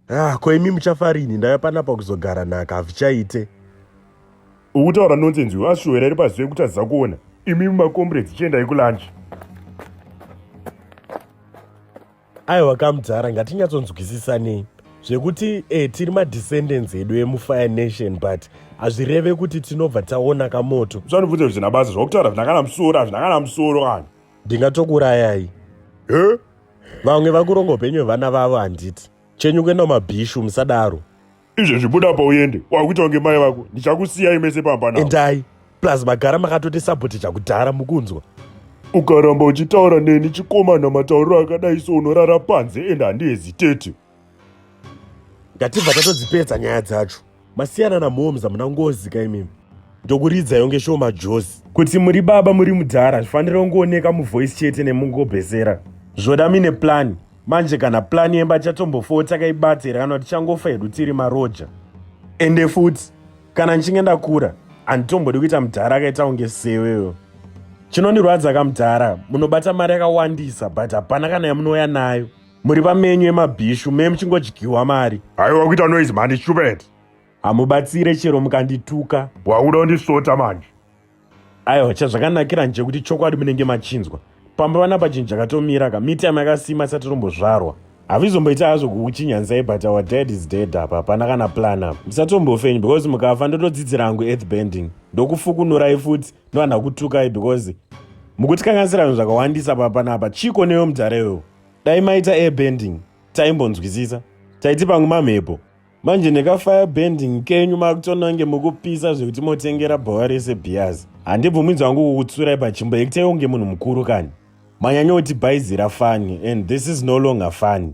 Ah, ko imi muchafa rini ndave panapa kuzogara nhaka hazvichaite. Ukutaura nonsense uyu ashuwera iri pazive kuti aziva kuona. Imi makomrades chiendai kulunch. Aiwa kamudhara ngatinyatsonzwisisanei zvekuti eh, tiri madescendants edu emufire nation but hazvireve kuti tinobva taona kamoto. Zvanobvunza kuti zvina basa zvakutaura zvina kana musoro hazvina kana musoro kana. Ndingatokurayai. Eh? Vamwe vakuronga upenyu hwevana vavo handiti. Chenyu kuenda kumabhishu musadaro. Izvezvi buda apa uende. Wakuita kunge mai vako. Ndichakusiyai mese pamba navo. Endai. Plus magara makatoti support chakudhara mukunzwa. Ukaramba uchitaura neni chikomana matauriro akadai so unorara panze and handiheziteti. ngatibva tatodzipedza nyaya dzacho masiyana namoms hamuna ngozi ka imimi ndokuridza yonge show majozi kuti muri baba muri mudhara hazvifanire kungooneka muvoice chete nemungobhesera zvoda mine plani manje kana plani yemba chatombofoo takaibata here kana tichangofa hedu tiri maroja ende futi kana ndichinge ndakura handitombodi kuita mudhara akaita kunge seweyo chinondirwadza kamudhara munobata mari yakawandisa but hapana kana yamunouya nayo muri vamenyu emabhishu me muchingodyiwa mari haiwa kuita noise mhani stupid hamubatsire chero mukandituka wakuda kundisota manje aiwa chazvakanakira nje kuti chokwadi munenge machinzwa pamba vana pachinhu chakatomira ka mitime yakasima isati tombozvarwa havizomboita hazvo kukuchinyansai but our dad is dead apa hapana kana plan apa musatombofenyu because mukafa ndotodzidzira hangu earth bending ndokufukunurai futi ndovanhu akutukai because mukutikanganisira zvinhu zvakawandisa papanapa chiko neyo mudhara iwewo dai maita air bending taimbonzwisisa taiti pamwe mamhepo manje nekafire bending kenyu makutonange mukupisa zvekuti motengera bhawa rese bias handibvumidzwa wangu kukutsurai pachimbo yekutaiwo nge munhu mukuru kani manyanyoti bhaizira fani and this is no longer fani